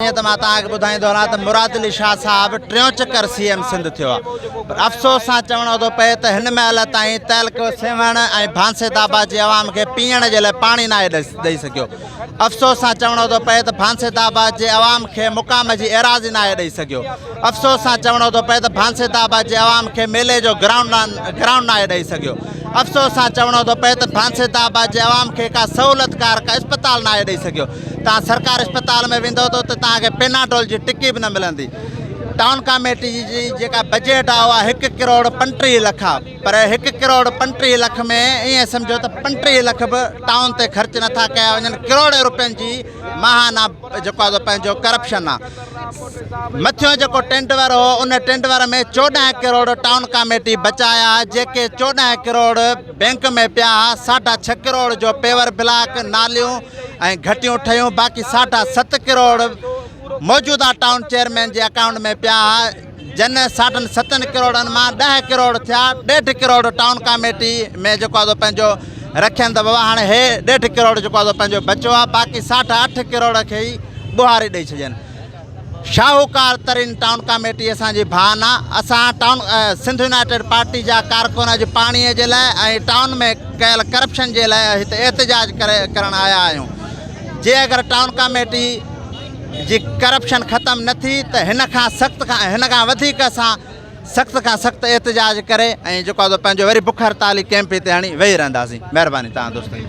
ائين ته مان توهان کي ٻڌائيندو هلان ته مراد علي شاهه صاحب ٽيون چڪر سي ايم سنڌ ٿيو آهي پر افسوس سان چوڻو ٿو پئي ته هن مهل تائين تعلقو سيوهڻ ۽ ڀانسيت آباد جي عوام کي پيئڻ جي لاء پاڻي ناهي ڏئي سگهيو افسوس سان چوڻو ٿو پئي ته ڀانسيت آباد جي عوام کي مقام جي ايراضي ناهي ڏئي سگهيو افسوس سان چوڻو ٿو پئي ته ڀانسيت آباد جي عوام کي ميلي جو گرائونڊ گرائونڊ ناهي ڏئي سگهيو افسوس سان چوڻو ٿو پئي ته ڀانسيت آباد جي عوام کي ڪا سهولتڪار ڪا اسپتال ناهي ڏئي سگهيو توهان سرڪاري اسپتال ۾ ويندو ته توهان کي پيناڊول جي ٽڪي به نه ملندي ٽائون ڪاميٽي جي جيڪا بجيٽ آهي اها هڪ ڪروڙ پنٽيهه لک آهي پر هڪ ڪروڙ پنٽيهه لک ۾ ائين سمجهو ته پنٽيهه لک به ٽائون تي خرچ نٿا ڪيا وڃن ڪروڙين روپين جي ماهانا جيڪو آهي پنهنجو ڪرپشن آهي مٿيون جيڪو ٽينڊور هو ان ٽينڊور ۾ چوڏهن ڪروڙ ٽائون ڪاميٽي بچايا جيڪي چوڏهن ڪروڙ بينڪ ۾ پيا ساڍا ڇهه ڪروڙ جو پيور بلاڪ ناليون ۽ گهٽيون ٺهيون باقي ساڍا ست ڪروڙ موجوده ٽائون چيئرمين جي اڪائونٽ ۾ پيا ها جن ساڍن ستن ڪروڙن مان ڏهه ڪروڙ ٿيا ڏيڍ ڪروڙ ٽائون ڪاميٽي ۾ جيڪو آزو پنهنجو رکين ته بابا هاڻي هي ڏيڍ ڪروڙ جيڪو آزو پنهنجو بچو ها باقي ساڍا اٺ ڪروڙ کي ئي ٻوهاري ڏئي ڇڏين شاهوڪار ترين ٽائون ڪاميٽي اسان جي ڀاء نه اسان ٽائون سنڌ يونائيٽيڊ پارٽي جا ڪارڪن اڄ پاڻي جي لاء ۽ ٽائون ۾ ڪيل ڪرپشن جي لاء هت احتجاج ڪرڻ آيا آهيون جي اگر ٽائون ڪاميٽي جي ڪرپشن ختم نه ٿي ته هن کان سخت کان هن کان وڌيڪ اسان سخت کان سخت احتجاج ڪري ۽ جيڪو پنهنجو وري بک هڙتالي ڪيمپ هتي هڻي ويهي رهنداسين مهرباني تان دوستن